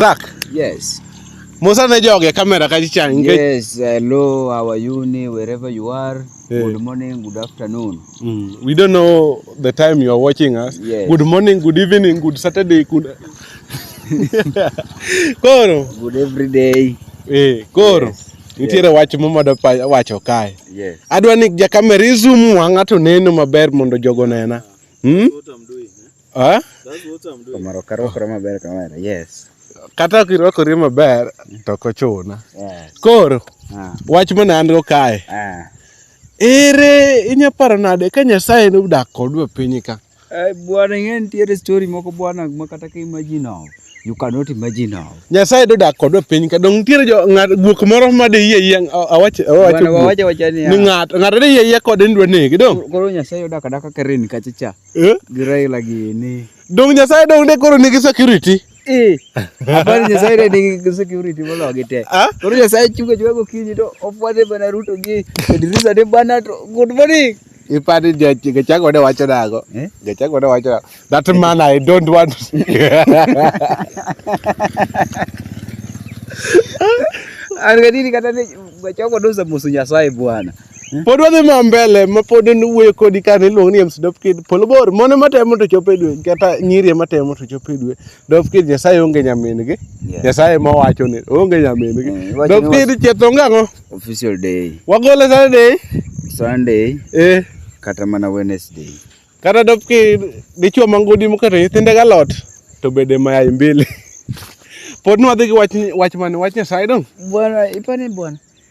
Zak. Yes. Musa ne joge kamera ka chicha nikech Yes, hello our uni wherever you are. Yeah. Good morning, good afternoon. Mm, we don't know the time you are watching us. Yes. Good morning, good evening, good Saturday, good Koro. Good every day. Eh, koro. Yes. Nitiere yes. wach momodo wacho kae. Yes. Adwa ni ja kamera izum wang'a to neno maber mondo jogo nena. Hmm? Ah? That's what I'm doing. Omaro karwakore maber kamera. Yes. Kata ok irwakori maber to ok ochuna. Yeah. Koro Ah. wach mana an go kae. Ah. Ere inya paro nade ka Nyasaye nodak kodwa e piny ka? Eh, bwana ing'e nitiere story moko bwana ma kata ka imagine of. You cannot imagine of. Nyasaye dodak kodwa e piny ka dong nitiere jo ng'at guok moro ma de yie yie awach awacho Bwana guok. wawacha wacha ni Ni ah, ng'at ng'at de yie yie kode ni dwa nege dong. koro Nyasaye odak adaka ka ren kacha cha. Eh? Gi Raila gini. Dong Nyasaye dong de koro nigi security. Eh. Abal Nyasaye de nigi security molo gi te. Ah? Koro Nyasaye chunga chunga gokinyi to ofwade bana Ruto gi Idrisa de bana to good morning. Ipani Gachagua ne wacho nago. Eh? Gachagua ne wacho nago. That man I don't want. An gadini kata ni Gachagua dosa musu Nyasaye bwana. pod wadhi ma mbele ma pod wuoyo kodi ka ne iluongo ni MC Dop Kid polo bor mone matemo to chopo e dwe kata nyiri matemo to chopo e dwe Dop Kid Nyasaye onge nyamin gi Nyasaye ma wacho ni onge nyamin gi mm, Dop Kid chetho ng'ango official day wagole Saturday Sunday eh kata mana Wednesday kata Dop Kid dichwo mangodi mokata nyithinde galot to bede mayai mbili pod nwadhi gi wach wach mane wach Nyasaye dong bwana ipani bwana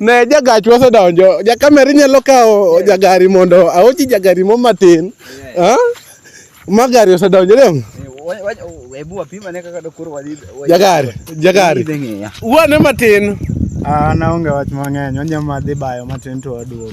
Ne jagach wasedonjo. Jakamera inyalo kawo jagari mondo aochi jagari mo matin. Ah? Ma gari osedonjo dong. Hebu wapima ne kaka dokoro wadhi. Jagari, jagari. Uone matin. Ah, naonge wach mang'eny. Wanyama dhi bayo matin to waduogo.